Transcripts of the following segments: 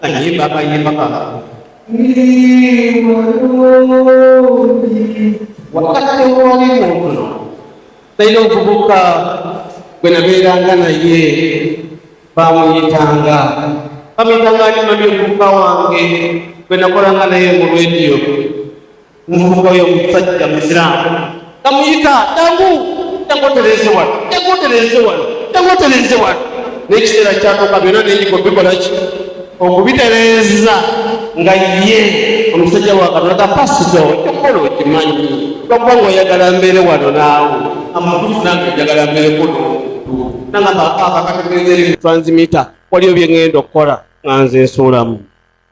Ayimba akayimba kaka. Ni mulungi. Wakati w'oli muntu naye omuvubuka gwe nabeeranga naye bamuyitanga bamuyitanga alimamye omuvubuka wange gwe nakolanga naye mu rediyo omuvubuka oyo omusajja musiraamu namuyita jangu jangu otereeze wano jangu otereeze wano jangu otereeze wano n'ekiseera kyatuuka byonna nenyika obikola ki okubitereeza nga ye omusajja wakatolaka pasito ekyokukola okimanyi lwakuba nga oyagala mbeere wano naawe amakufu nange njagala mbeere kuno nangamba akakategeeza eri transmita waliyo bye ŋŋenda okukola nga nze nsuulamu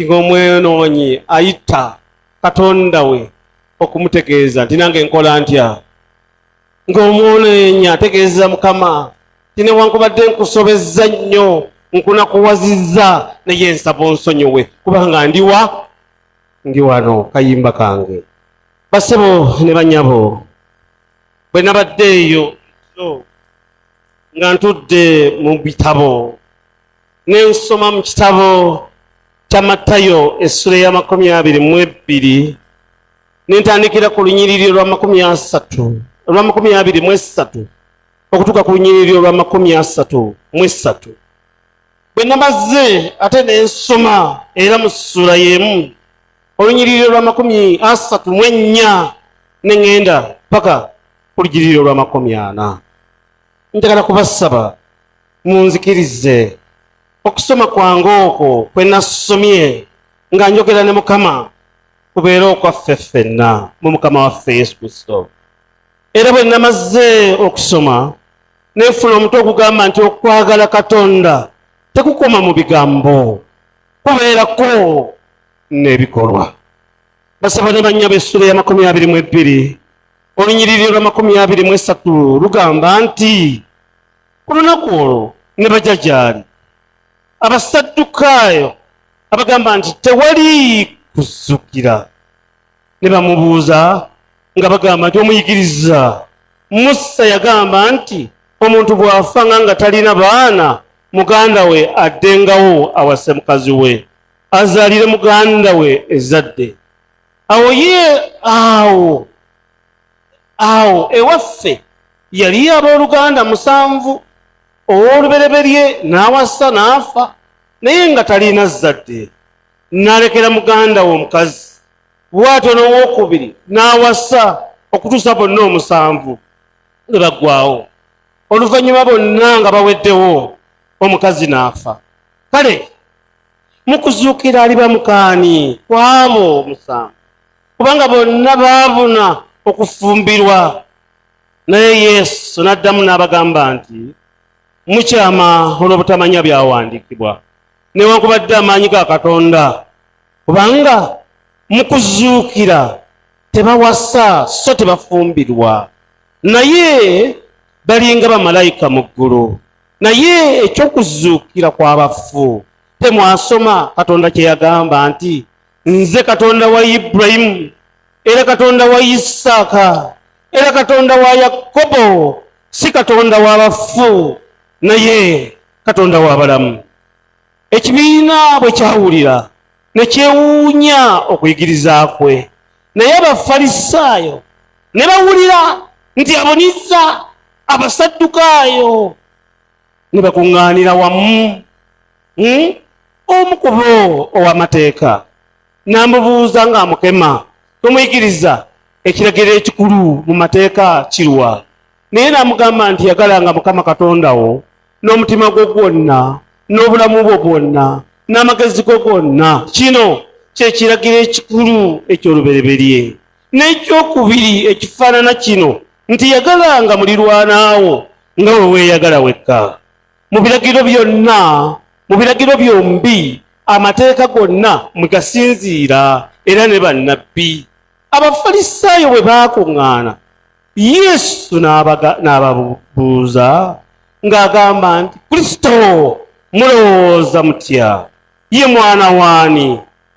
ng'omwenoonyi ayita katonda we okumutegeeza nti nange nkola ntya ng'omwonoonyi ategeeza mukama ti newankubadde nkusobezza nnyo nkunakuwazizza naye nsaba onsonyiwe kubanga ndiwa ndi wano kayimba kange basebo ne banyabo bwe nabadde eyo nga ntudde mu bitabo ne nsoma mu kitabo kya Matayo essula ya makumi abiri mu ebbiri ne ntandikira ku lunyiriri olwa makumi asatu olwa makumi abiri mu essatu okutuuka ku lunyiriri olwa makumi asatu mu essatu bwe namaze ate ne nsoma era mu ssula y'emu olunyiriri olwa makumi asatu mu ennya ne ŋŋenda paka ku lunyiriri olwa makumi ana njagala kubasaba munzikirize okusoma kwange okwo kwe nasomye nga njogera ne mukama kubeere okwaffe ffenna mu mukama waffe yesu kristo era bwe namaze okusoma nenfuna omutu ogugamba nti okwagala katonda tekukoma mu bigambo kubeerako n'ebikolwa basaba ne bannya b'essula ya makumi abiri mu ebbiri olunyiriri lwa makumi abiri mu esatu lugamba nti ku lunaku olwo ne baja gyali abasaddukaayo abagamba nti tewali kuzzukira ne bamubuuza nga bagamba nti omuyigiriza musa yagamba nti omuntu bw'afa nga nga talina baana muganda we addengawo awase mukazi we azaalire muganda we ezadde awo ye awo awo ewaffe yali abooluganda musanvu ow'olubereberye n'awasa n'afa naye nga talina zzadde n'alekera muganda we omukazi bw'atyo n'owokubiri n'awasa okutuusa bonna omusanvu ne baggwawo oluvannyuma bonna nga baweddewo omukazi n'afa kale mu kuzuukira aliba mukaani kw'abo omusanvu kubanga bonna baabuna okufumbirwa naye yesu n'addamu n'abagamba nti mukyama olw'obutamanya byawandiikibwa newankubadde amaanyi ga katonda kubanga mu kuzuukira tebawasa so tebafumbirwa naye balinga bamalayika mu ggulu naye eky'okuzuukira kw'abafu temwasoma katonda kye yagamba nti nze katonda wa iburayimu era katonda wa isaaka era katonda wa yakobo si katonda w'abafu naye katonda w'abalamu ekibiina bwe kyawulira ne kyewuunya okuyigiriza kwe naye abafalisaayo ne bawulira nti abonizza abasaddukaayo ne bakuŋŋaanira wamu hmm? omu ku bo ow'amateeka n'amubuuza ng'amukema tomuyigiriza ekiragiro ekikulu mu mateeka kirwa naye n'amugamba nti yagalanga mukama katonda wo n'omutima gwo gwonna n'obulamu bwo bwonna n'amagezi go gonna kino kyekiragiro ekikulu eky'olubereberye N'ekyokubiri ekifaanana kino nti yagalanga mulirwanaawo nga bwe weeyagala wekka. Mu biragiro byonna, mu biragiro byombi, amateeka gonna mwe gasinziira era ne bannabbi. Abafalisaayo bwe baakuŋŋaana, Yesu n'ababuuza ng'agamba nti, Kristo mulowooza mutya? Ye mwana w'ani?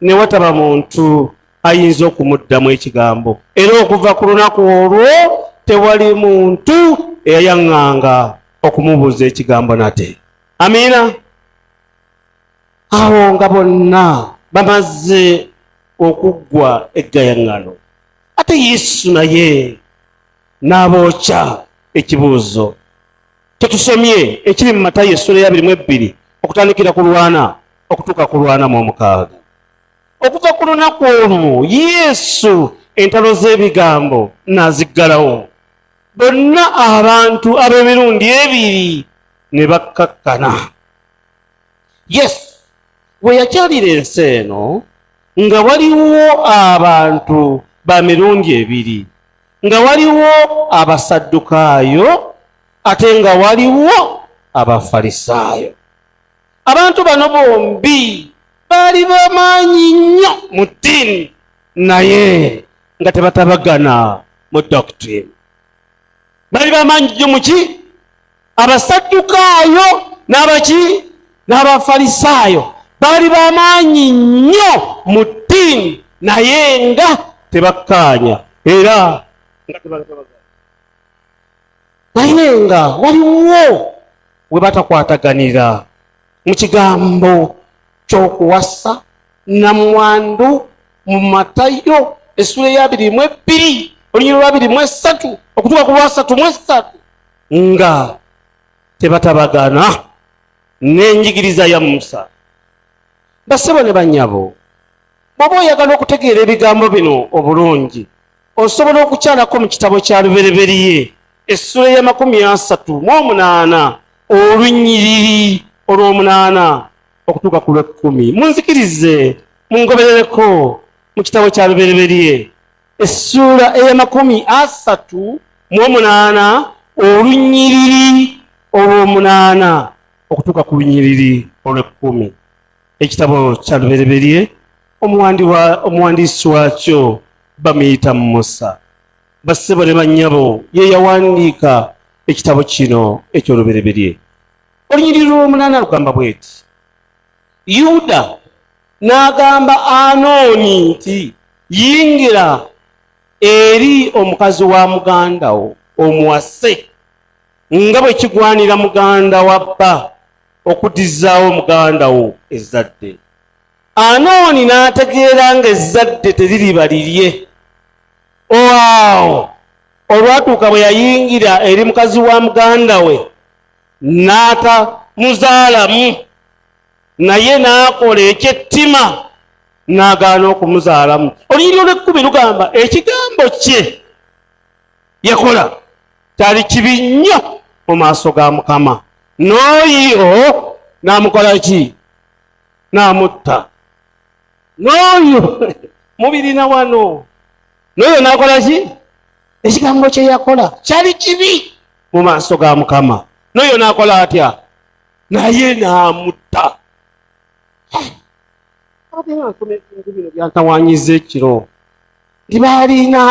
ne wataba muntu ayinza okumuddamu ekigambo era okuva ku lunaku olwo tewali muntu eyayaŋŋanga okumubuuza ekigambo nate amiina awo nga bonna bamaze okuggwa eggayaŋŋano ate yesu naye n'abookya ekibuuzo tetusomye ekiri mu matayo essula eyabiri mu ebbiri okutandikira ku lwana okutuuka ku lwana mu omukaaga okuva ku lunaku olwo yesu entalo z'ebigambo n'aziggalawo bonna abantu ab'emirundi ebiri ne bakkakkana yes we yakyalira ensi eno nga waliwo abantu ba mirundi ebiri nga waliwo abasaddukaayo ate nga waliwo abafalisaayo abantu bano bombi baali bamaanyi nnyo mu ddiini naye nga tebatabagana mu doctrine baali bamaanyi nnyo muki abasaddukaayo n'abaki n'abafalisaayo baali bamaanyi nnyo mu ddiini naye nga tebakkaanya era naye nga waliwo we batakwataganira mu kigambo ky'okuwasa namwandu mu matayo essula eyabiri mu ebbiri olunyiriro lwabiri mu esatu okutuuka ku lwasatu mu esatu nga tebatabagana n'enjigiriza ya musa basebo ne bannyabo bwoba oyagala okutegeera ebigambo bino obulungi osobola okukyalako mu kitabo kya lubereberiye essula y'amakumi asatu mu omunaana olunyiriri olw'omunaana okutuuka ku lw'ekkumi munzikirize mungoberereko mu kitabo kya lubereberiye essuula ey'amakumi asatu mu omunaana olunyiriri olw'omunaana okutuuka ku lunyiriri olw'ekkumi ekitabo kya lubereberye omuwandiisi waakyo bamuyita musa bassebo ne bannyabo ye yawandiika ekitabo kino eky'olubereberye olunyiriri lw'omunaana lugamba bweti yuda n'agamba anooni nti yingira eri omukazi wa muganda wo omuwase nga bwe kigwanira muganda wa bba okudizzaawo muganda wo ezzadde anooni n'ategeera nga ezzadde teririba lirye oawo olwatuuka bwe yayingira eri mukazi wa muganda we n'atamuzaalamu naye n'akola ekyettima n'agaana okumuzaalamu olunyiri olwekkumi lugamba ekigambo kye yakola kyali kibi nnyo mu maaso ga mukama n'oyo n'amukola ki n'amutta n'oyo mubirina wano n'oyo n'akola ki ekigambo kye yakola kyali kibi mu maaso ga mukama noyo nakola atya naye namutta byatawanyiza ekiro nti baalina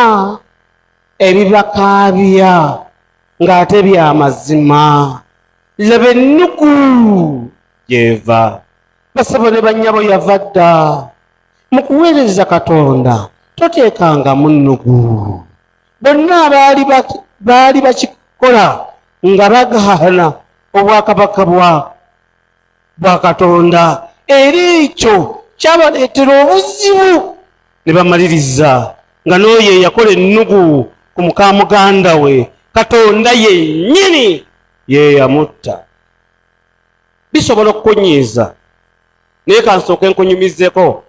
ebibakaabya ng'ate bya mazima laba ennuku gyeva basabo ne bannyabo yava dda mu kuweereza katonda toteekangamu nnugu bonna abaali baali bakikola nga bagahana obwakabaka bwa bwa katonda era ekyo kyabaleetera obuzibu ne bamaliriza nga n'oyo eyakola ennugu ku muka muganda we katonda yennyini yeyamutta bisobola okukunyiiza naye kansooke nkunyumizeko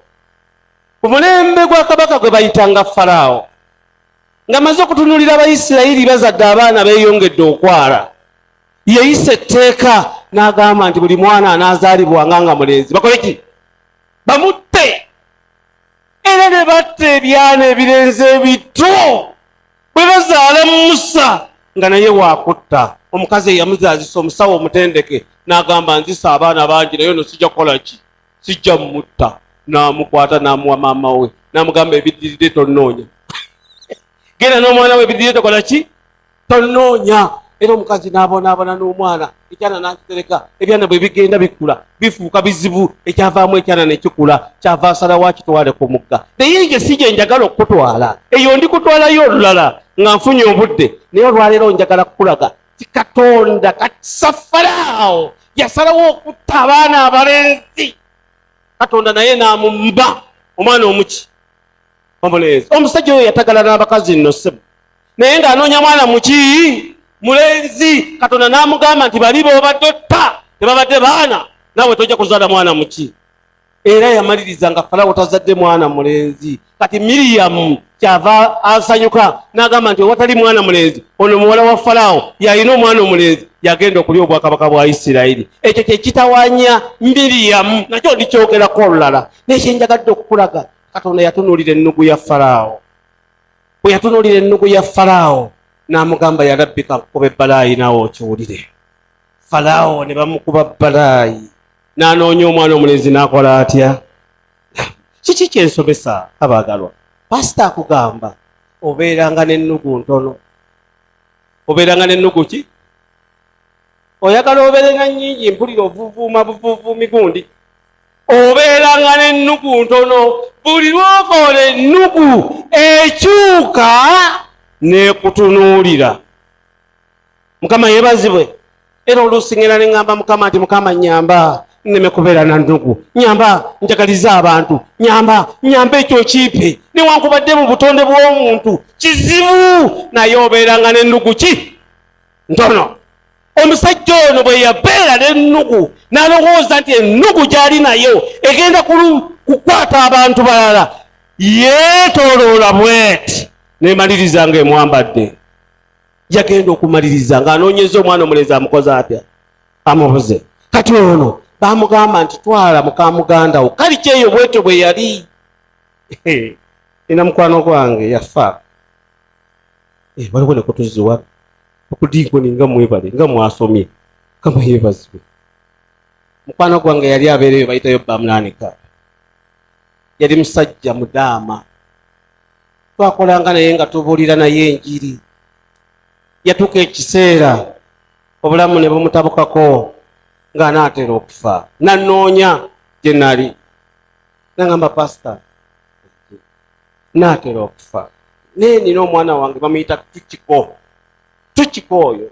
ku mulembe gwa kabaka gwe bayitanga faraawo nga maze okutunulira abayisirayiri bazadde abaana beeyongedde okwala yeyisa etteeka n'agamba nti buli mwana anaazaalibwanga nga mulenzi bakole ki bamutte era ne batta ebyana ebirenze ebito bwe bazaala musa nga naye waakutta omukazi eyamuzaazisa omusawo omutendeke n'agamba nzisa abaana bangi naye ono sijja kukola ki sijja mumutta namukwata namuwa maama we namugamba ebidiride tonoonya genda n'omwana we ebidiride tokola ki tonoonya era omukazi n'abonaabona n'omwana ekyana nakitereka ebyana bwe bigenda bikula bifuuka bizibu ekyavaamu ekyana nekikula kyava asala wakitwale ku mugga naye nge si gye njagala okukutwala eyo ndikutwalayo olulala nga nfunye obudde naye olwaleero njagala kukulaga ti katonda katisa faraawo yasalawo okutta abaana abalenzi katonda naye namumba omwana omuki omulenzi omusajja oyo yatagala n'abakazi nno sebo naye ng'anoonya mwana muki mulenzi katonda n'amugamba nti bali bobadde otta tebabadde baana nawe tojja kuzaala mwana muki era yamaliriza nga falawo tazadde mwana mulenzi kati miriyamu kyava asanyuka n'agamba nti owatali mwana mulenzi ono muwala wa falawo yalina omwana omulenzi yagenda okulya obwakabaka bwa isirayiri ekyo kyekitawanya miriyamu nakyo ndikyogerako olulala naye kyenjagadde okukulaga katonda yatunuulira ennugu ya falawo bwe yatunuulira ennugu ya falawo n'amugamba yalabbika nkukuba ebbalaayi naawe okiwulire falawo ne bamukuba bbalaayi n'anoonya omwana omulenzi n'akola atya kiki kyensomesa abaagalwa pasita akugamba obeeranga n'ennugu ntono obeeranga n'ennugu ki oyagala obeere na nnyingi mpulira ovuvuuma buvuvuumi gundi obeeranga n'ennugu ntono buli lwokola ennugu ekyuka n'ekutunuulira mukama yebazibwe era oluusi ngenda neŋamba mukama nti mukama nyamba neme kubeera na ndugu nyamba njagaliza abantu nyamba nyamba ekyo kiipe newankubadde mu butonde bw'omuntu kizibu naye obeeranga n'endugu ki ntono omusajja ono bwe yabeera n'ennugu n'alowooza nti ennugu gy'ali nayo egenda kukwata abantu balala yeetoloola bweti nemaliriza nga emwambadde yagenda okumaliriza ng'anoonyeza omwana omulenzi amukoze atya amubuze kati ono bamugamba nti twala mukamuganda wo kali kyeyo bwetyo bwe yali ina mukwano gwange yafa eh, waliwo ne kutuziwa okudinkoni nga mwebale nga mwasomye kama yebazibwe mukwano gwange yali abeereyo bayitayo bamulanika yali musajja mudaama twakolanga naye nga tubuulira naye enjiri yatuuka ekiseera obulamu ne bumutabukako ng'anaatera okufa nannoonya gye nali nangamba pasita naatera okufa naye nina omwana wange bamuyita tukiko tukiko oyo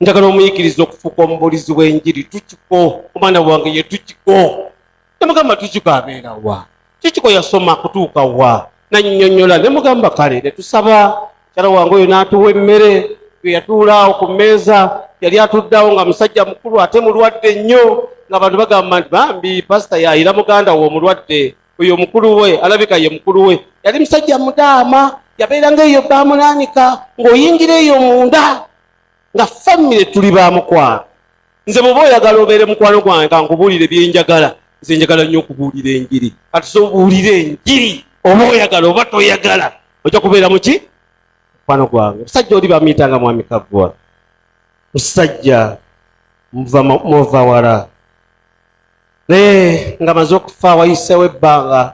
njagala omuyigiriza okufuuka omubuulizi w'enjiri tukiko omwana wange ye tukiko nemugamba tujuga abeera wa kikiko yasoma kutuuka wa nanyonyola nemugamba kale netusaba kyala wange oyo natuwa emmere eyatuulaawo ku mmeeza yali atuddeawo nga musajja mukulu ate mulwadde nnyo nga bantu bagamba nti bambi pasita yayira muganda we omulwadde oyo mukulu we alabika ye mukulu we yali musajja mudaama yabeeranga eyo bamunanika ng'oyingira eyo munda nga famire tuli ba mukwano nze bwoba oyagala obeere mukwano gwange kankubuulire byenjagala nze njagala nnyo okubuulira enjiri kati sobuulire enjiri oba oyagala oba toyagala ojja kubeera muki mukwano gwange musajja oli bamuyitanga mwami kaggwa musajja muva wala naye nga maze okufa wayisewo ebbanga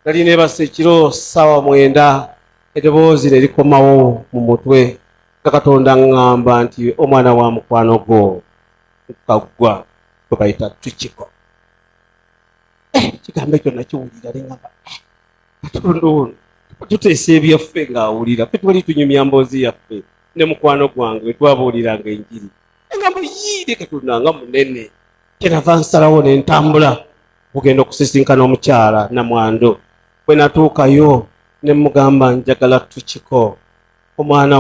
nali nebasa ekiro saawa mwenda edoboozi ne likomawo mu mutwe nga katonda ŋŋamba nti omwana wa mukwano gwo nkaggwa kwe bayita tukiko eh, ekigambo ekyo nakiwulira neŋamba eh, katonda ono tuteesa ebyaffe ng'awulira fe twali tunyumya mboozi yaffe ne mukwano gwange wetwabuuliranga enjiri eŋamba yiire katonda nga munene kyerava nsalawo ne ntambula okugenda okusisinkana omukyala namwando bwe natuukayo ne mugamba njagala tukiko omwana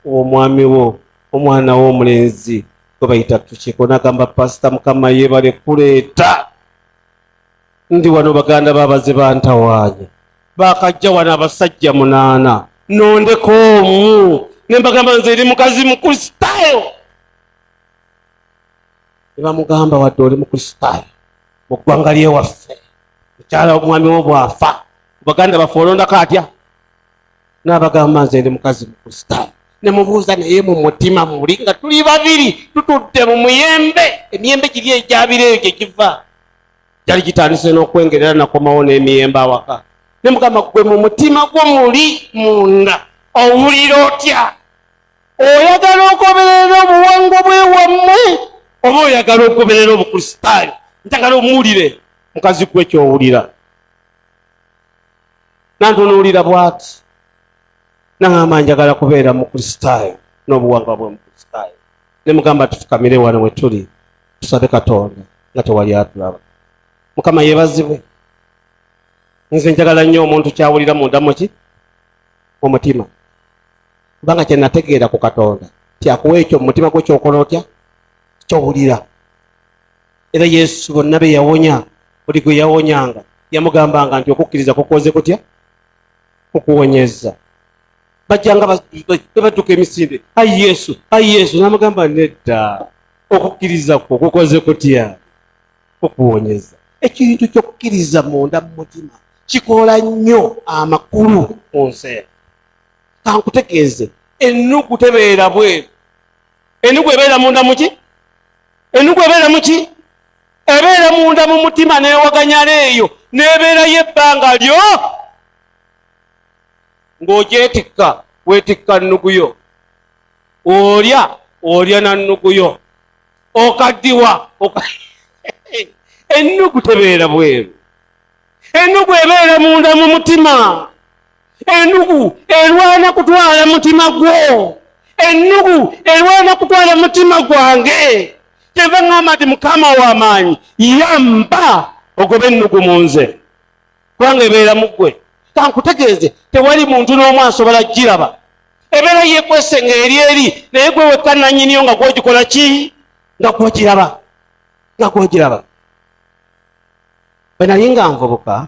w'omwami wo omwana w'omulenzi gwe bayita tukiiko nagamba pasita mukama yebale kuleeta ndi wano baganda babaze bantawaanya bakajja wano abasajja munaana nondeko omu nembagamba nze eri mukazi mukristaayo nebamugamba wadde oli mukristaayo mu ggwanga lyewaffe mukyala omwami wo bwafa baganda baffe olondako atya n'abagamba nze ndi mukazi mukusitaamu ne mubuuza naye mu mutima muli nga tuli babiri tutudde mu muyembe emiyembe giri egyabira eyo gye giva gyali gitandise n'okwengerera nakomawo n'emiyembe awaka ne mugamba gwe mu mutima gwo muli munda owulira otya oyagala ogoberera obuwango bwewammwe oba oyagala ogoberera obukristaayo njagala omuwulire mukazi gwe kyowulira nantunuulira bwati naŋamba njagala kubeera mukristaayo n'obuwangwa bwe mukristaayo ne mugamba tufukamire wano we tuli tusabe katonda nga tewali atulaba mukama yebazibwe nze njagala nnyo omuntu kyawulira mundamuki omutima kubanga kyenategeera ku katonda tyakuwa ekyo mumutima gwo kyokola otya kyowulira era yesu bonna be yawonya buli gwe yawonyanga yamugambanga nti okukkiriza kukoze kutya kukuwonyeza bajjanga bebadduka emisinde ai yesu ai yesu namugamba nedda okukkiriza kwo kukoze kutya kukuwonyeza ekintu kyokukkiriza munda mu mutima kikola nnyo amakulu mu nsi kankutegeeze ennugu tebeera bweru enugu ebeera munda muki enugu ebeera muki ebeera munda mu mutima newaganyala eyo nebeerayo ebbanga lyo ng'ogyetikka wetikka nnugu yo olya olya na nnugu yo okaddiwa ennugu tebeera bweru ennugu ebeera munda mu mutima ennugu erwana kutwala mutima gwo ennugu erwana kutwala mutima gwange kyeva ŋŋamba nti mukama w'amaanyi yamba ogobe ennugu mu nze kubanga ebeera mu ggwe kankutegeeze tewali muntu n'omu asobola kugiraba ebeera yekwese nga eri eri naye gwe wekka nanyiniyo nga gwogikola ki nga gwogiraba nga gwogiraba bwe nali nga nvubuka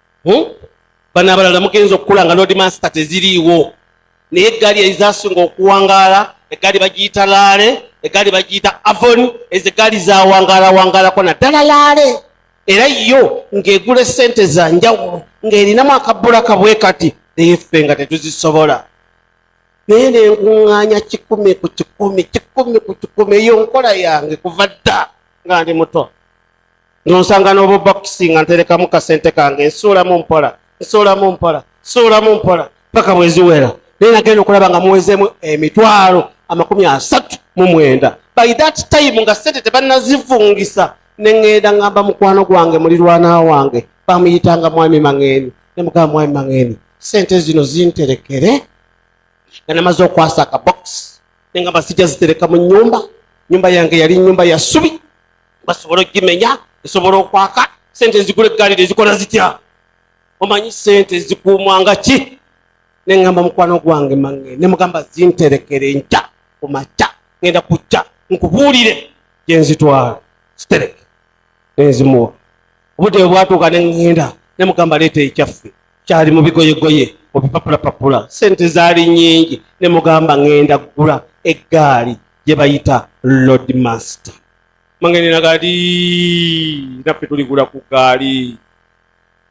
hmm? bano abalala mugenza okukula nga lord master teziriiwo naye eggaali ezasinga okuwangaala eggaali bagiyita laale eggaali bagiyita avon ezo eggaali zawangaalawangalako naddala laale era yo ng'egula esente za njawulo ng'erinamu akabbula kabwe kati naye ffe nga tetuzisobola naye nenkuŋŋaanya kikumi ku kikumi kikumi ku kikumi eyo nkola yange kuva dda nga ndi muto nonsanga n'obubakisi nga nterekamu kasente kange nsuulamu mpola nsuulamu mpola nsuulamu mpola paka bweziwera naye nagenda okulaba nga muwezeemu emitwalo amakumi asatu mu mwenda by that time nga sente tebanazivungisa neŋŋenda ŋŋamba mukwano gwange mulirwana wange bamuyitanga mwami maŋeeni ne mugamba mwami maŋeeni sente zino zinterekere nga namaze okwasa akabokisi ne nga basijja zitereka mu nyumba nyumba yange yali nyumba ya subi basobola okugimenya esobola okwaka sente ezigula eggaali tezikola zitya omanyi sente zikuumwa nga ki ne ŋŋamba mukwano gwange mange ne mugamba zinterekere nkya ku makya ŋenda kujja nkubuulire gye nzitwala zitereke nenzimuwa obudde bwe bwatuuka ne ŋŋenda ne mugamba leeta ekyaffe kyali mu bigoyegoye obipapulapapula sente zaali nyingi ne mugamba ŋŋenda kugula eggaali gye bayita lodmaster mangene na gali naffe tuligula ku gaali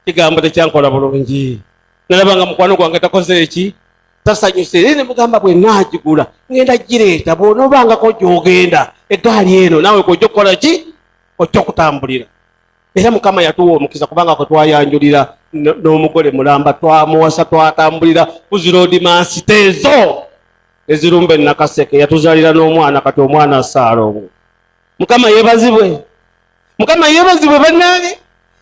kigambo tekyankola bulungi nalaba nga mukwano gwange takoze eki tasanyuse naye nemugamba bwe naagigula ngenda gireeta bwonoobangako gyogenda egaali eno naawe kojja okukola ki ojja okutambulira era mukama yatuwa omukisa kubanga kwe twayanjulira n'omugole mulamba twamuwasa twatambulira kuziroodi mansiteezo ezirumba enakaseke yatuzalira n'omwana kati omwana asaala obwo mukama yebazibwe mukama yebazibwe banange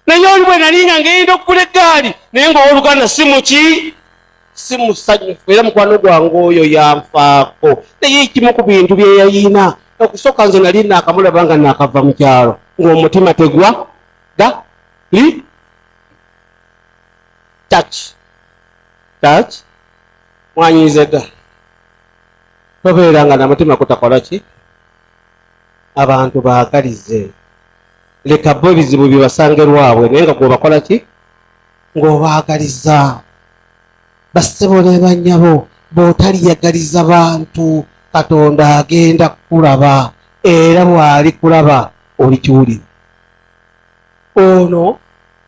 naye oli bwe nalinga ngenda okugula eggaali naye nga owoluganda si muki si musanyufu era mukwano gwange oyo yanfaako naye ekimu ku bintu byeyayina okusooka nze nali naakamulaba nga naakava mu kyalo ng'omutima tegwa da li touch touch mwanyinzega tobeera nga namutima kutakola ki abantu bagalize leka bo ebizibu bibasange lwabwe naye nga gwebakola ki ng'obaagaliza bassebo ne bannyabo bw'otaliyagaliza bantu katonda agenda kukulaba era bw'ali kulaba olikiwulira ono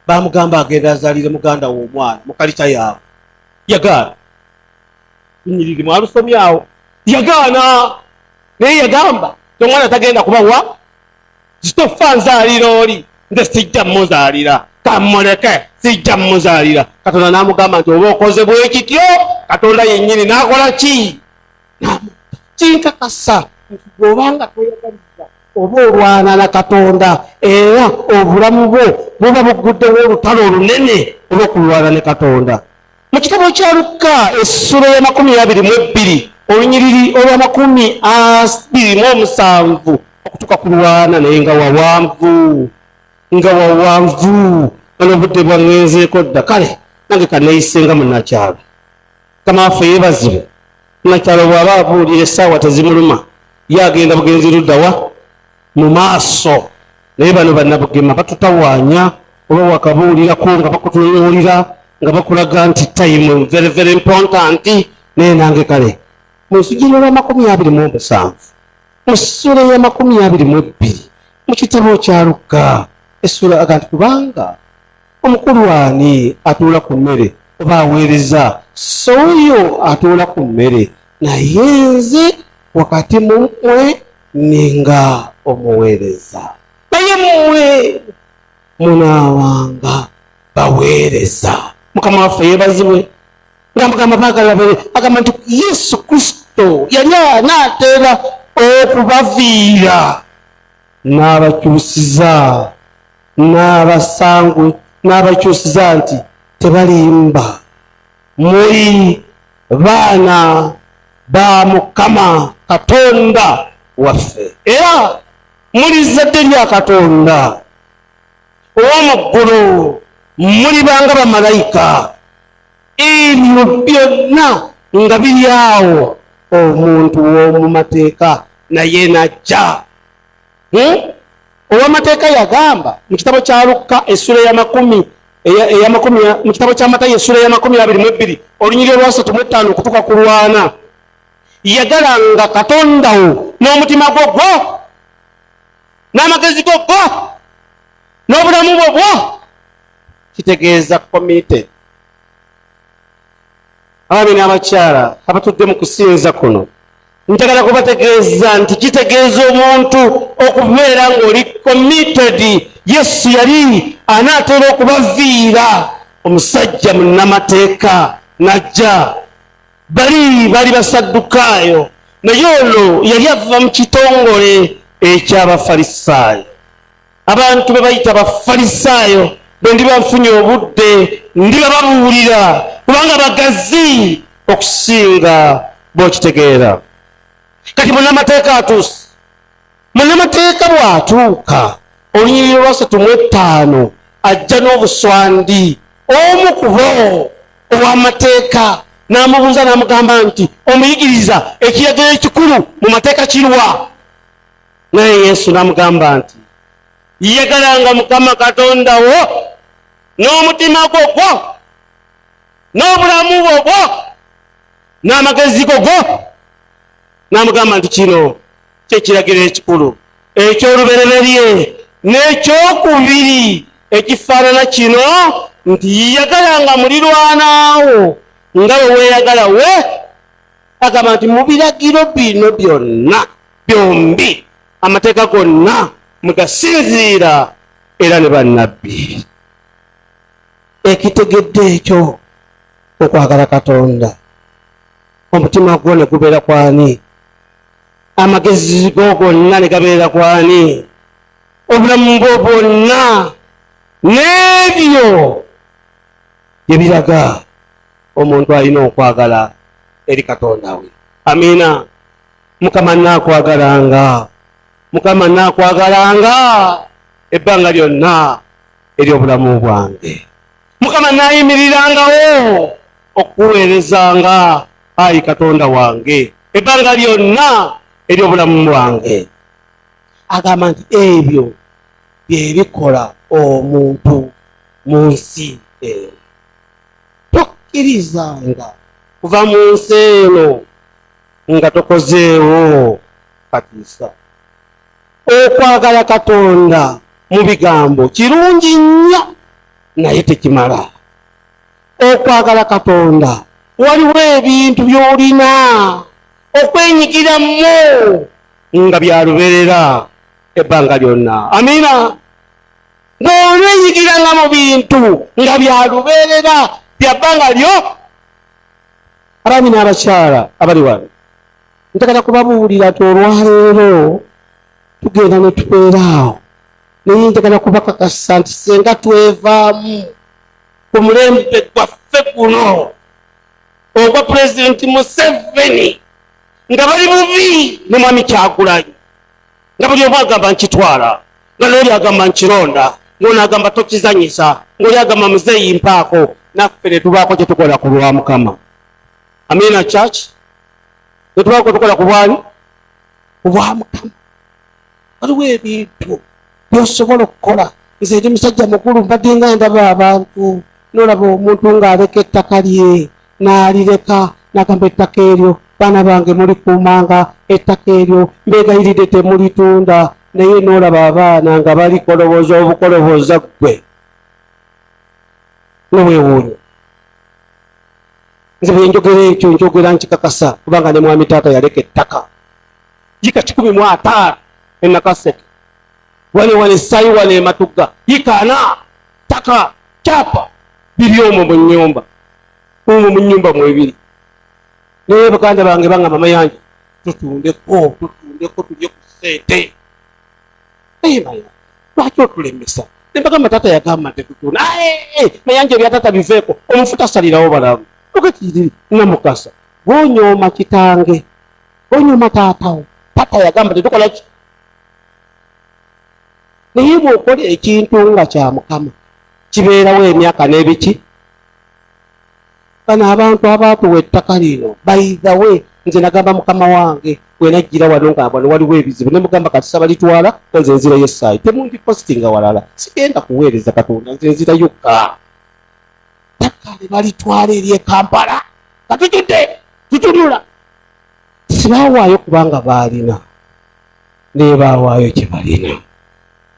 bamugamba agenda azalire muganda w'omwana mukalikya yaabwe yagaana lunyiriri mwalusomyawo yagaana naye yagamba omwana tagenda kubawa zitofa nzaalira oli nze sijja muzaalira kamuleke sijja muzaalira katonda n'amugamba nti oba okoze bwekityo katonda yennyini n'akola ki kinkakasa nti bw'obanga toyagaliza oba olwana na katonda era obulamu bwo buba bugguddewo olutalo olunene olw'okulwana ne katonda mu kitabo kya lukka essula y'amakumi abiri mu ebbiri olunyiriri olw'amakumi abiri mu omusanvu okutuuka ku lwana naye nga wawanvu nga wawanvu nano obudde bwangenzeeko dda kale nange kaneeyisenga munakyalo kama waffe yebazibwe nakyalo bwaba abuulira essaawa tezimuluma ye agenda bugenzi luddawa mu maaso naye bano banabugema batutawaanya oba wakabuulirako nga bakutunuulira nga bakulaga nti time very very important naye nange kale mu nsujja y'olwamakumi abiri mu omusanvu mu ssuula ey'amakumi abiri mu ebbiri mu kitabo kya lukka essuula aga nti kubanga omukulu ani atuula ku mmere oba aweereza sooyo atuula ku mmere naye nze wakati mu mmwe ninga omuweereza naye mmwe munaawanga baweereza mukama waffe yeebazibwe nga mugamba baagala babeere agamba nti yesu kristo yali anaatera okubaviira n'abakyusiza n'abasangwe n'abakyusiza nti tebalimba muli baana ba mukama katonda waffe era muli zzadde lya katonda ow'omu ggulu mulibanga bamalayika ebyo byonna nga biri awo omuntu w'omu mateeka naye najja hmm? owamateeka yagamba mu kitabo kya lukka essula eyamakumi eyamakumi mu kitabo kya matayo essula eyamakumi abiri mu ebbiri olunyiri olwasatu mu ettaano okutuka ku lwana yagalanga katondawo n'omutima gwo gwo n'amagezi go gwo n'obulamu bwo bwo kitegeeza committed abaami n'abakyala abatudde mu kusinza kuno njagala kubategeeza nti kitegeeza omuntu okubeera ng'oli committed yesu yali anaatera okubaviira omusajja munnamateeka najja bali bali basaddukaayo naye ono yali ava mu kitongole eky'abafalisaayo abantu be bayita bafalisaayo bwe ndiba nfunye obudde ndiba babuulira kubanga bagazi okusinga bwokitegeera kati munamateeka atuuse munamateeka bw'atuuka olunyiriri lwasatu mu ettaano ajja n'obuswandi omu kubo ow'amateeka n'amubuuza n'amugamba nti omuyigiriza ekiragiro ekikulu mu mateeka kirwa naye yesu namugamba nti yegalanga mukama katonda wo n'omutima gwo gwo n'obulamu bwo gwo n'amagezi go go n'amugamba nti kino kyekiragiro ekikulu ekyolubereberye n'ekyokubiri ekifaanana kino nti yagalanga mulirwanaawo nga bwe weeyagala we agamba nti mu biragiro bino byonna byombi amateeka gonna mugasinziira era ne bannabbi ekitegedde ekyo okwagala katonda omutima gwo ne gubeera kwani amagezi go gonna ne gabeera kwani obulamu bwo bwonna n'ebyo bye biraga omuntu alina okwagala eri katonda we amiina mukama nakwagalanga mukama nakwagalanga ebbanga lyonna eryobulamu bwange mukama nayimirirangawo okuweerezanga ayi katonda wange ebbanga lyonna eryobulamu bwange agamba nti ebyo byebikola omuntu mu nsi eno tokkirizanga kuva mu nsi eno nga tokozeewo katiisa okwagala katonda mu bigambo kirungi nnyo naye tekimala okwagala katonda waliwo ebintu by'olina okwenyigiramu nga byaluberera ebbanga lyonna amiina ng'olwenyigiranga mu bintu nga byaluberera byabbanga lyo abaami n'abakyala abali wano ntakata kubabuulira ti olwaleero tugenda ne tubeeraawo naye njagala kubakakasa nti senga twevaamu ku mulembe gwaffe guno ogwa pulezidenti museveni nga bali bubi ne mwami kyagulanyi nga buli omu agamba nkitwala nga n'oli agamba nkironda ng'ono agamba tokizanyisa ng'oli agamba muzeeyi mpaako naffe netubaako kyetukola ku lwa mukama amina church netubaako kwetukola ku bwani ku bwa mukama waliwo ebintu byosobola okukola nze ndi musajja mukulu mbadde nga ndaba abantu nolaba omuntu ng'aleka ettaka lye n'alireka n'agamba ettaka eryo baana bange mulikuumanga ettaka eryo mbeegayiride temulitunda naye n'olaba abaana nga balikoloboza obukoloboza ggwe nowewuunyo nze bwenjogera ekyo njogera nkikakasa kubanga ne mwami taata yaleka ettaka jika kikumi mu ataano enakaseke wale wale sayi wale ematuga yikana taka kyapa biri omwo mu nyumba omwo mu nyumba mwebiri naye baganda bange banga mama yanje tutundeko tutundeko tulye ku sente naye maya lwaki otulemesa nembagamba tata yagamba nti tutunda mayanja ebyatata biveeko omufuta asalirawo balamu okakiri namukasa gwonyooma kitange gwonyooma taatawo tata yagamba tetukolaki naye bwokola ekintu nga kya mukama kibeerawo emyaka n'ebiki bano abantu abaatuwa ettaka lino baidhawe nze nagamba mukama wange wenajjira wano nga wano waliwo ebizibu ne mugamba kati sabalitwala nze nzira yesaayi temundi postinga walala sigenda kuweereza katonda nze nzira yokka ttaka ne balitwala eri ekampala katujudde tutunula sibawaayo kubanga baalina naye bawaayo kyebalina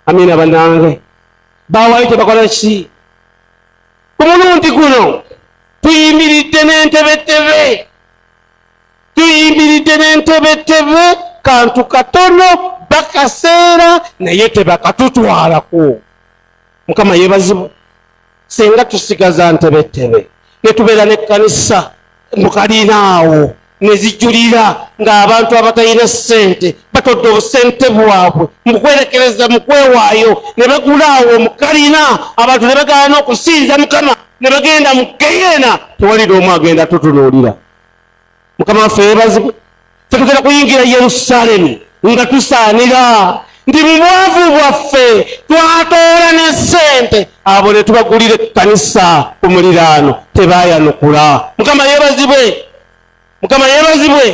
amina banange bawaayo kyebakola ki ku mulundi guno tuyimiridde n'entebetebe tuyimiridde n'entebetebe kantu katono bakaseera naye tebakatutwalako mukama yebazibwa singa tusigaza ntebetebe netubeera nekkanisa mukalina awo nezijulira ng'abantu abatalina ssente batodde obusente bwabwe mukwerekereza mukwewaayo ne bagula awo mukalina abantu ne bagala n'okusinza mukama ne bagenda mu geyeena tewalira omu agenda tutunuulira mukama waffe yebazibwe tetugenda kuyingira yerusalemu nga tusaanira nti mubwavu bwaffe twatoola ne sente abo ne tubagulira ekkanisa ku muliraano tebayanukula mukama yebazibwe mukama yebazibwe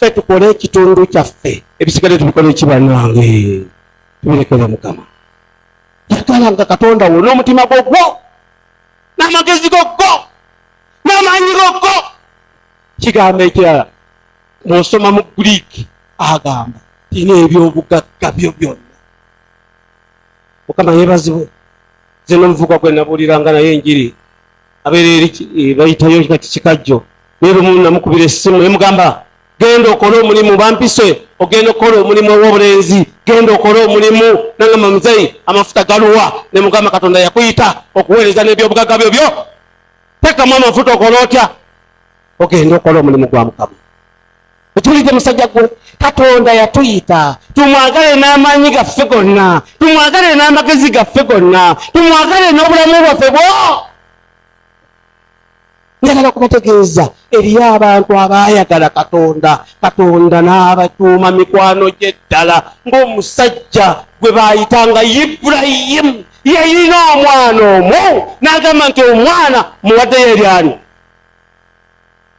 fe tukole ekitundu kyaffe ebisigale tubikole ekibanange tubirekere mukama yagala nga katonda wo n'omutima gwogwo n'amagezi gogwo n'amaanyi gokko kigambo ekirala mwosoma mu greek agamba tina ebyobugagga byo byonna mukama yebazibwe ze nomuvuka gwe nabuuliranga naye enjiri abeera eri eh, bayitayo kati kikajjo naye lumu namukubira essimu nemugamba genda okole omulimu bampise ogenda okukola omulimu ow'obulenzi genda okole omulimu nangamba muzeyi amafuta galuwa nemugamba katonda yakuyita okuweereza n'ebyobugagga byo byo tekamu amafuta okola otya ogenda okola omulimu gwa mukama okiwulidde musajja gwe katonda yatuyita tumwagale n'amaanyi gaffe gonna tumwagale n'amagezi gaffe gonna tumwagale n'obulamu bwaffe bwo njagala okubategeeza eriyo abantu abaayagala katonda katonda n'abatuuma mikwano gye ddala ng'omusajja gwe baayitanga iburayimu yayina omwana omu nagamba nti omwana muwaddeyo eryani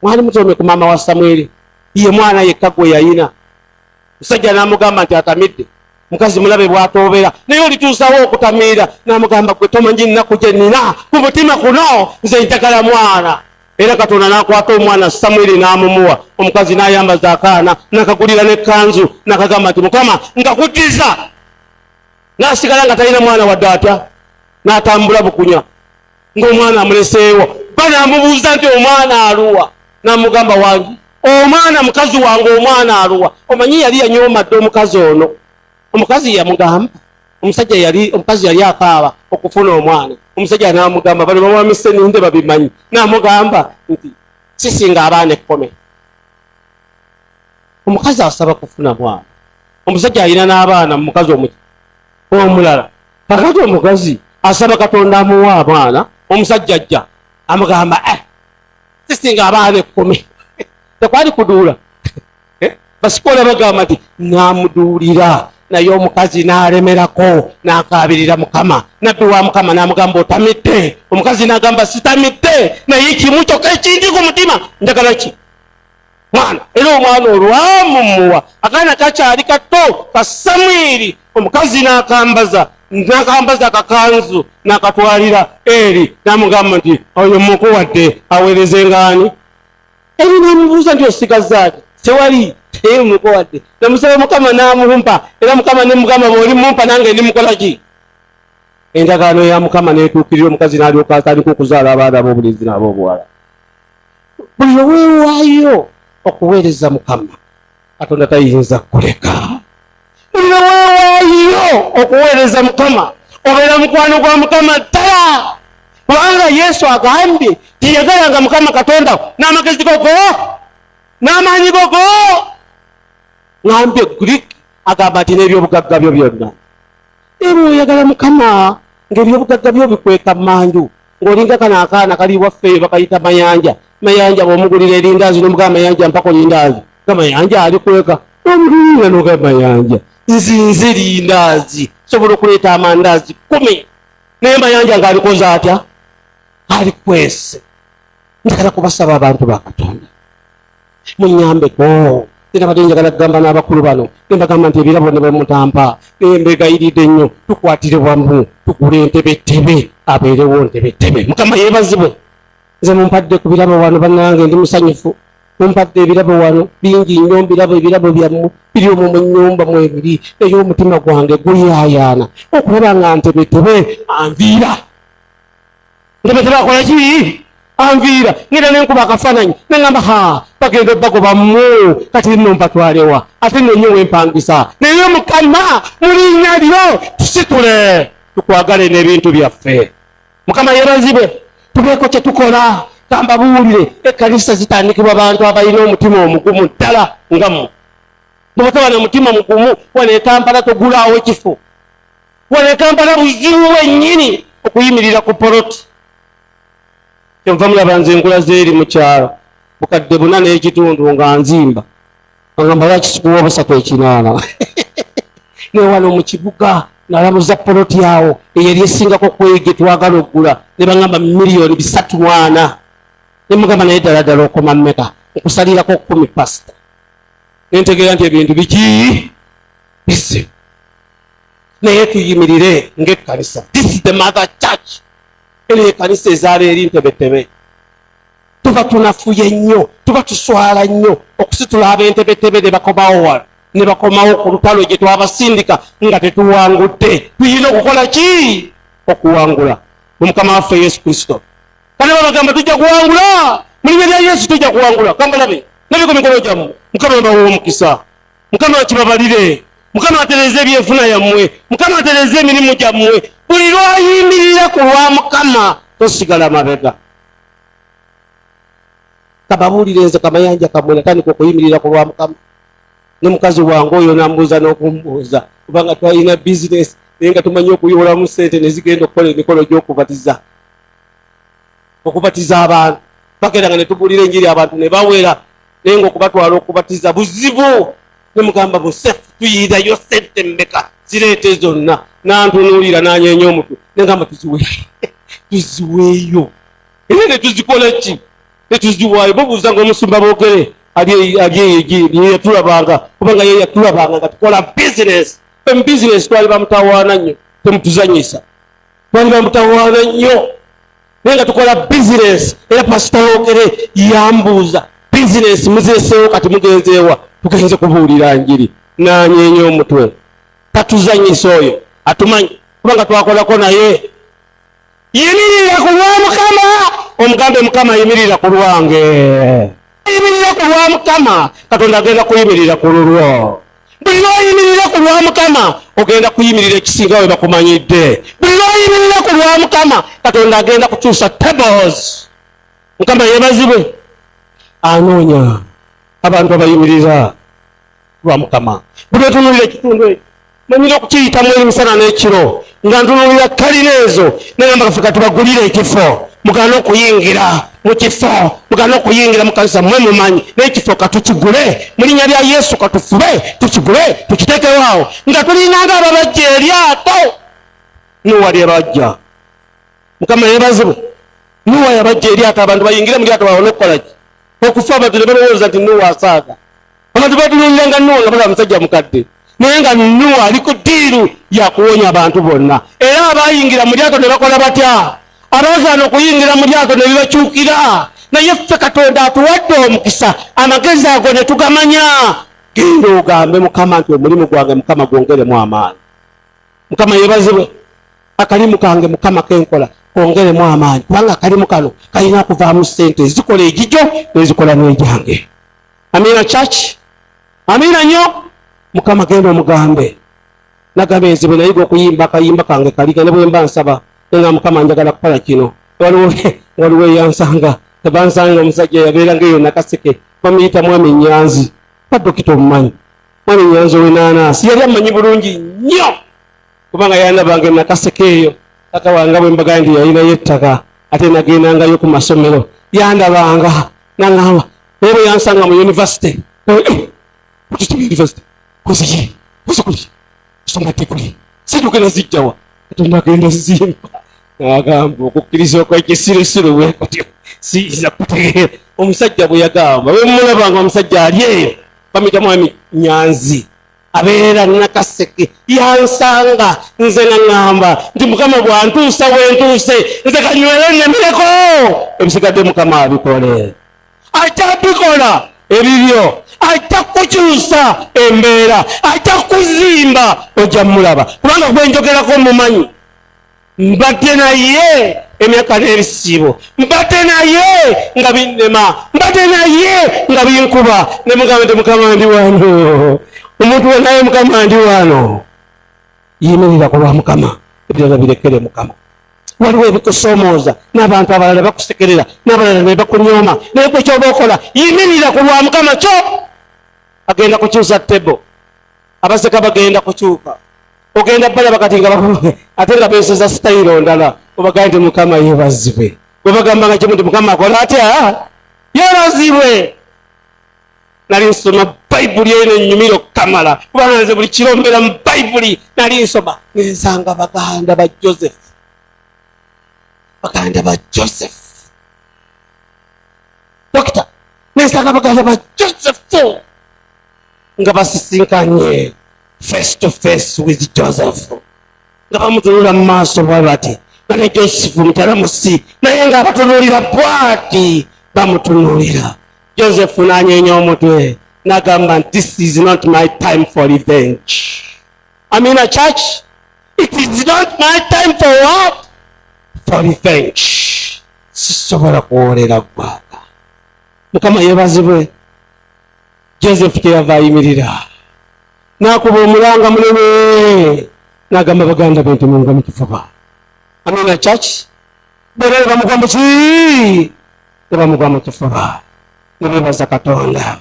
mwali mutomye ku maama wa samweri ye mwana yekka gwe yayina musajja namugamba nti atamidde mukazi mulabe bwatoobera naye olituusawo okutamiira namugamba gwe tomanyi nnaku gye nina ku mutima kuno nze njagala mwana era katonda nakwata omwana samwiri namumuwa omukazi nayambaza akaana nakagulira nekanzu nakagamba nti mukama nkakutiza n'asigala nga talina mwana wadde atya n'atambula bukunya ng'omwana amuleseewo ba n'amubuuza nti omwana aluwa n'amugamba wangi omwana mukazi wange omwana aluwa omanyi yali yanyoomadde omukazi ono omukazi yamugamba omusajja yali omukazi yali akaaba okufuna omwana omusajja n'amugamba bano bawamise ninde babimanyi n'amugamba nti sisinga abaana ekkome omukazi asaba kufuna mwana omusajja alina n'abaana mukazi omuki omulala kakati omukazi asaba katonda amuwa abaana omusajja ajja amugamba eh, sisinga abaana ekkumi tekwali kuduula eh, basikola bagamba nti namuduulira naye omukazi n'alemerako n'akaabirira mukama nabbi wa mukama n'amugamba otamidde omukazi n'agamba sitamidde naye kimu kyokka ekinti ku mutima njagala ki mwana era omwana olwamumuwa akaana kakyali kato ka samwiri omukazi n'akambaza nakambaza akakanzu nakatwalira eri namugamba nti oyo mukuwadde aweereze ngaani eri namubuuza nti osigazaaki tewali eye mukuwadde namusaba mukama namumpa era mukama nemugamba bwoli mumpa nange ndi mukolaki endagaano ya mukama netuukirira omukazi nalyoka atandika okuzaala abaana ab'obulenzi n'ab'obuwala buli lwe weewaayo okuweereza mukama katonda tayinza kuleka buli lwe weewaayo okuweereza mukama obeera mukwano gwa mukama ddala kubanga yesu agambye tiyagalanga mukama katonda n'amagezi gogo n'amaanyi gogo ngambye greek agamba nti n'ebyobugagga byo byonna era oyagala mukama ng'ebyobugagga byo bikweka mmanju ng'olinga kano akaana kali waffe eyo bakayita mayanja mayanja bwomugulira erindaazi nomugaa mayanja mpako lindaazi nga mayanja ali kweka omugulira noga mayanja nzinze erindaazi sobola okuleeta amandaazi kumi naye mayanja ng'alikoze atya ali kwese njagala kubasaba abantu ba katonda munyambeko era badde njagala kugamba n'abakulu bano nembagamba nti ebirabo ne bamutampa nembegayiridde nnyo tukwatire wamu tugule entebettebe abeerewo ntebettebe mukama yeebazibwe nze mumpadde ku birabo wano bannange ndi musanyufu mumpadde ebirabo wano bingi nnyo mbirabo ebirabo byammwe biri omwo mu nnyumba mwebiri naye omutima gwange guyayaana okulaba nga ntebetebe anviira ndobetebakola ki anviira ngenda nenkuba akafaananyi nengamba ha bagenda obagoba mu kati nno mpatwalewa ate nonyo wempangisa naye mukama mulinya lyo tusitule tukwagale n'ebintu byaffe mukama yebazibwe tubeeko kyetukola gamba buwulire ekanisa zitandikibwa bantu abalina omutima omugumu ddala nga mu bwotaba na mutima mugumu wano ekampala togulaawo ekifo wano ekampala buzibu bwennyini okuyimirira ku poloti kyenva mulaba nze enkula zeeri mukyalo bukadde buna n'ekitundu nga nzimba agamba lwaki sikuwa obusatu ekinaana newano mu kibuga nalamuza poloti awo eyali esingako kwege twagala okugula ne bagamba miliyoni bisatu mwana ne mugamba naye ddala ddala okoma mmeka okusalirako kumi pasita nentegeera nti ebintu bikiyi bizibu naye tuyimirire ng'ekkanisa this is the mother church eno ekanisa ezaala eri ntebetebe tuba tunafuye nnyo tuba tuswala nnyo okusitula ab'entebetebe ne bakomawo wano ne bakomawo ku lutalo gye twabasindika nga tetuwangudde tuyina okukola ki okuwangula mu mukama waffe yesu kristo kale babagamba tujja kuwangula mulinya lya yesu tujja kuwangula kambalabe nabiko mikolo gyamu mukama mbawa omukisa mukama akibabalire mukama atereze ebyenfuna yammwe mukama atereze emirimu gyammwe buli lwayimirira ku lwa mukama tosigala mabega kababuulire nze kamayanja kamwe natandika okuyimirira ku lwa mukama ne mukazi wange oyo nambuuza n'okumbuuza kubanga twalina bizinesi naye nga tumanyi okuyolamu sente nezigenda okukola emikolo gy'okubatiza okubatiza abantu bagenda nga netugulira enjiri abantu nebawera naye nga okubatwala okubatiza buzibu nemugamba busef tuyirayo sente mmeka zireete zonna nantunuulira nanyenya omutwe negamba tuziweyo tuziweeyo era netuzikola ki netuziwayo babuuza nga omusumba bogere aliyeyatulabanga kubanga ye yatulabanga nga tukola bizinesi fe mu bizinesi twali bamutawaana nnyo temutuzanyisa waliba mutawaana nnyo naye nga tukola bizinesi era pasitawogere yambuuza bizinesi muzeseewo kati mugenzeewa tugenze kubuulira njiri nanyeenya omutwe tatuzanyisa oyo atumanyi kubanga twakolako naye yimirira ku lwa mukama omugambe mukama yimirira ku lwange ayimirira ku lwa mukama katonda agenda kuyimirira ku lulwo buli lwoyimirira ku lwa mukama ogenda kuyimirira ekisinga we bakumanyidde buli lwoyimirira ku lwa mukama katonda agenda kukyusa tables mukama yebazibwe anoonya abantu abayimirira lwa mukama buli otunuulira ekitundu ekyo manyira okukiyitamu emisana n'ekiro nga ntunuulira kalina ezo nengamba kafe katubagulire ekifo mugana okuyingira mu kifo mugana okuyingira mu kanisa mwe mumanyi n'ekifo katukigule mu linnya lya yesu katufube tukigule tukiteekewaawo nga tulinanga ababajja eryato nuwa lyebajja mukama yebazibu nuwa yabajja eryato abantu bayingire mu lyato bawone okukolaki okufa abantu ne balowooza nti nuwa asaaga abantu batunuulira nga nuwa nga balaba musajja mukadde naye nga nuwa ali ku ddiiru yakuwonya abantu bonna era abayingira mu lyato ne bakola batya abaazaana okuyingira mu lyato ne bibakyukira naye ffe katonda atuwadde omukisa amagezi ago ne tugamanya genda ogambe mukama nti omulimu gwange mukama gwongeremu amaanyi mukama yebazibwe akalimu kange mukama kenkola kongeremu amaanyi kubanga akalimu kano kalina kuvaamu ssente ezikola egijo nezikola n'egyange amiina church amiina nyo mukama genda omugambe nagamba enze bwe nayiga okuyimba akayimba kange kaliga ne bwemba nsaba nga mukama njagala kukola kino waliwo waliwo eyansanga tebansanga omusajja yabeeranga eyo nakaseke bamuyita mwami nyanzi kadokita omumanyi mwami nyanzi owenanasi yali amanyi bulungi nnyo kubanga yanabange nakaseke eyo tata wanga bwembagaa nti yalinayo ettaka ate nagendangayo ku masomero yandabanga naŋŋamba naye bwe yansanga mu yunivasite yunivasite kuziye kuzikuli kusoma diguli situkena zijjawa katonda agenda zizimba nagamba okukkiriza okwekisirusiru bwe kutyo siyinza kutegeera omusajja bwe yagamba bwe mumulabanga omusajja ali eyo bamuyitamu ami nyanzi abeera nakaseke yansanga nze naŋamba nti mukama bwantuusa wentuuse nze kanywere nemireko ebisigadde mukama abikole ajja bikola ebibyo ajja kukyusa embeera ajja kuzimba ojja mulaba kubanga gwenjogerako mumanyi mbadde naye emyaka n'ebisiibo mbadde naye nga binnema mbadde naye nga binkuba ne mugamba nti mukama ndi wano omuntu wenaye mukama ndi wano yimirira ku lwa mukama ebirala birekere mukama waliwo ebikusomooza n'abantu abalala bakusekerera n'abalala ne bakunyooma naye kwe kyoba okola yimirira ku lwa mukama kyo agenda kukyusa tebo abaseka bagenda kukyuka ogenda balaba kati nga ate nga besoza sitayiro ndala obagamba nti mukama yebazibwe webagamba nga kimu nti mukama akola atya yebazibwe nali nsoma bayibuli eyo nenyumira okukamala kubanga nze buli kiro mbeera mu bayibuli nali nsoma nensanga baganda ba joseph baganda ba joseph dokita nensanga baganda ba joseph nga basisinkanye face to face with joseph nga bamutunula mu maaso bwa bati nga ne joseph mutala musi naye nga abatunulira bwati bamutunulira joseph nanyenya omutwe nagamba nti this is not my time for revenge amina church it is not my time for what for revenge sisobola kuwoolera ggwanga mukama yebazibwe joseph kyeyava ayimirira nakuba omulanga munene nagamba baganda be nti munga mukifuba amina church bera nebamugwa muki nebamugwa mukifuba nebebaza katonda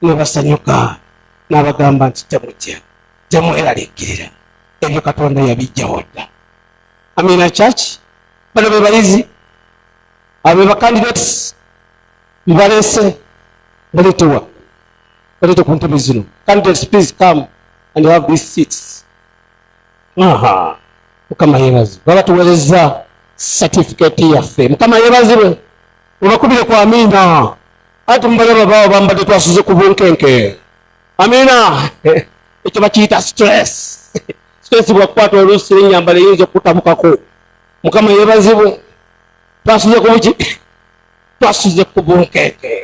nebasanyuka nabagamba nti temutya temweralikirira ebyo katonda yabijjawo dda amina church bano bebayizi abo bebakandidati mbaleese baletewa balete ku ntebe zino candidates please come and have these seats aha mukama yebazi baba tuwereza certificate yaffe mukama yebazibwe obakubire ku amiina ati mubalaba bawo bambadde twasuze ku bunkenke amiina ekyo bakiyita stress stress bwakukwata oluusi enyambala eyinza okutabukako mukama yebazibwe twasuze ku buki twasuze ku bunkenke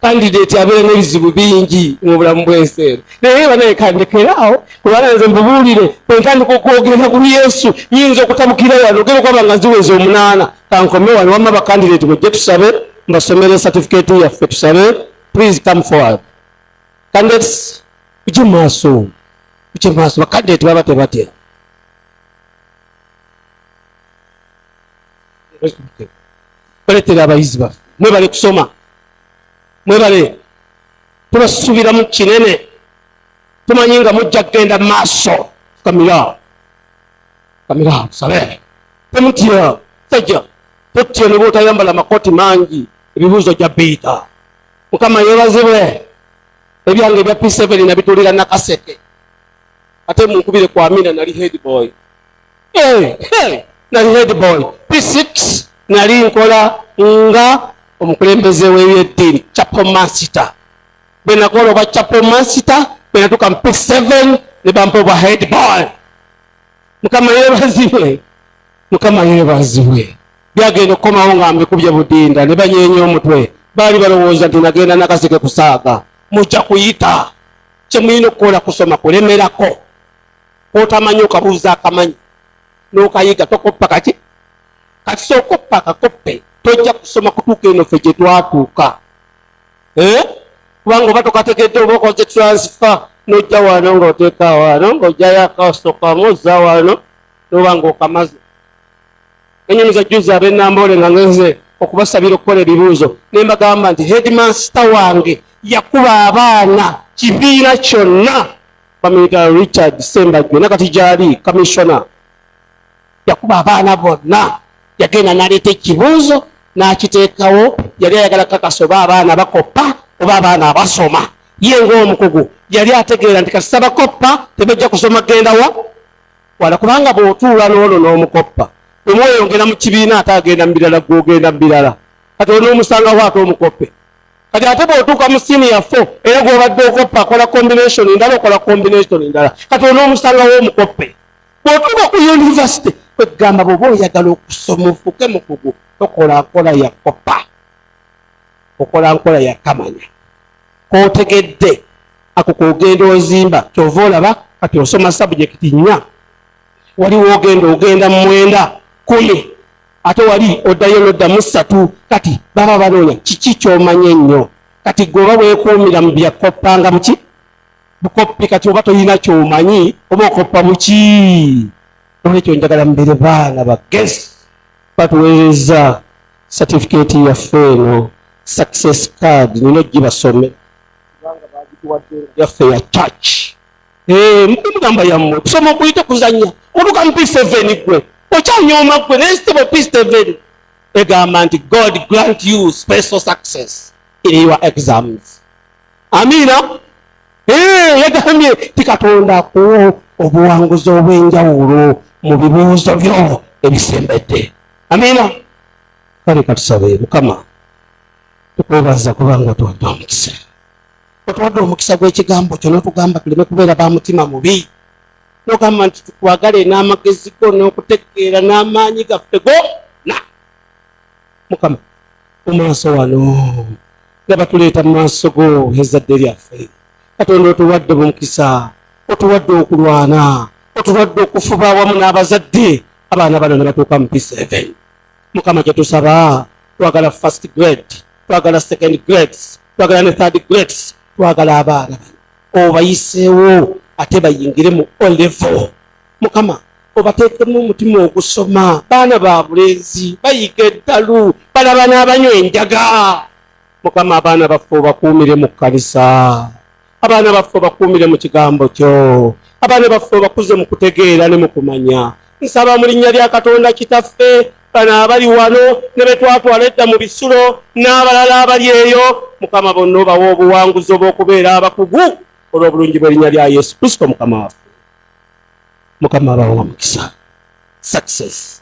kandideeti abeera n'ebizibu bingi mu bulamu bw'ensi eno naye banaye kandekeraawo kubanga nze mbubuulire entandika okwogera ku yesu nyinza okutabukira wano ogera okwaba nga ziweza omunaana kankome wano wamma bakandideeti bwejje tusabe mbasomere satifikeeti yaffe tusabe please come forward kandidates uje maaso uje maaso bakandideeti baba tebatera baletera abayizi baffe mwebale kusoma mwebale tubasubiramu kinene tumanyi nga mujja kugenda maaso kamira kamira sabe temutya sajja totya ne bwotayambala makoti mangi ebibuuzo gya biita mukama yebazibwe ebyange ebya p7 nabitulira nakaseke ate munkubire kwamina nali headboy Eh, eh, nali headboy p6 nali nkola nga omukulembeze w'ebyeddiini chapel master bwe nakola obwa chapel master bwe natuuka mu p7 ne bampa obwa headboy mukama yeebazibwe mukama yeebazibwe byagenda okukomawo nga mbikubye budinda ne banyeenya omutwe baali balowooza nti nagenda nakaseke kusaaga mujja kuyita kyemulina okukola kusoma kulemerako kotamanyi okabuuza akamanyi nokayiga tokoppa kaki kati sokoppa akakoppe tojja kusoma kutuuka eno fe gyetwatuuka eh? kubanga oba tokategedde oba okoze transfer nojja wano ngaoteeka wano ngaojayo akasokamu oza wano noba nga okamaze enyonyi za juzi abenamboole nga ngenze okubasabira okukola ebibuuzo ne mbagamba nti headmaster wange yakuba abaana kibiina kyonna bamuyita richard sembajwe nakati gyali kamissiona yakuba abaana bonna yagenda naleeta ekibuuzo n'akiteekawo yali ayagala kakasa oba abaana bakoppa oba abaana abasoma ye ngaomukugu yali ategeera nti kasita bakoppa tebajja kusoma gendawa wala kubanga bw'otuula n'ono n'omukoppa omweyongera mu kibiina ate agenda mu birala gwogenda mu birala kati onoomusangawo ate omukoppe kati ate bwotuuka mu siniya fo era gwobadde okoppa akola combination ndala okola combination ndala kati olina omusanga womukoppe bwotuuka ku yunivasite kwegamba bwoba oyagala okusoma ofuuke mukugu tokola nkola ya koppa okola nkola ya kamanya kotegedde ako kogenda ozimba kyova olaba kati osoma sabujekiti nnya waliwo ogenda ogenda mumwenda kumi ate wali oddayo noddamu ssatu kati baba banoonya kiki kyomanya ennyo kati gwe oba weekuumira mu byakoppanga buki bukoppi kati oba tolina kyomanyi oba okoppa buki olwekyo njagala mubere baana bagezi batuweereza satifikeeti yaffe eno success card nina ogibasome yaffe ya church Eh, mugamba yammwe kusoma okuyita kuzanya otuka mu piseveni gwe okyanyooma gwe naye sitebo piseveni egamba nti god grant you special success in your exams amiina eh, yagambye ti katonda akuwa obuwanguzi obw'enjawulo mu bibuuzo byo ebisembedde amiina kale katusabe mukama tukwebaza kubanga tuwadde omukisa otuwadde omukisa gw'ekigambo kyo n'otugamba tuleme kubeera ba mutima mubi nogamba nti tukwagale n'amagezi go n'okutegeera n'amaanyi gaffe gona mukama mu maaso wano nga batuleeta mu maaso go ezadde lyaffe katonda otuwadde mumukisa otuwadde okulwana otuwadde okufuba awamu n'abazadde abaana bano ne batuuka mu p7 mukama kyetusaba twagala first grade twagala second grades twagala ne third grades twagala abaana obayiseewo ate bayingire mu olevo mukama obateekemu omutima ogusoma baana ba bulenzi bayiga eddalu balaba n'abanywa enjaga mukama abaana baffe obakuumire mu kkanisa abaana baffe obakuumire mu kigambo kyo abaana baffe obakuze mu kutegeera ne mu kumanya nsaba mu linnya lya katonda kitaffe bano abali wano ne betwatwala edda mu bisulo n'abalala abali eyo mukama bonna obawa obuwanguzi obw'okubeera abakugu olw'obulungi bw'erinnya lya yesu kristo mukama waffe mukama abawa omukisa success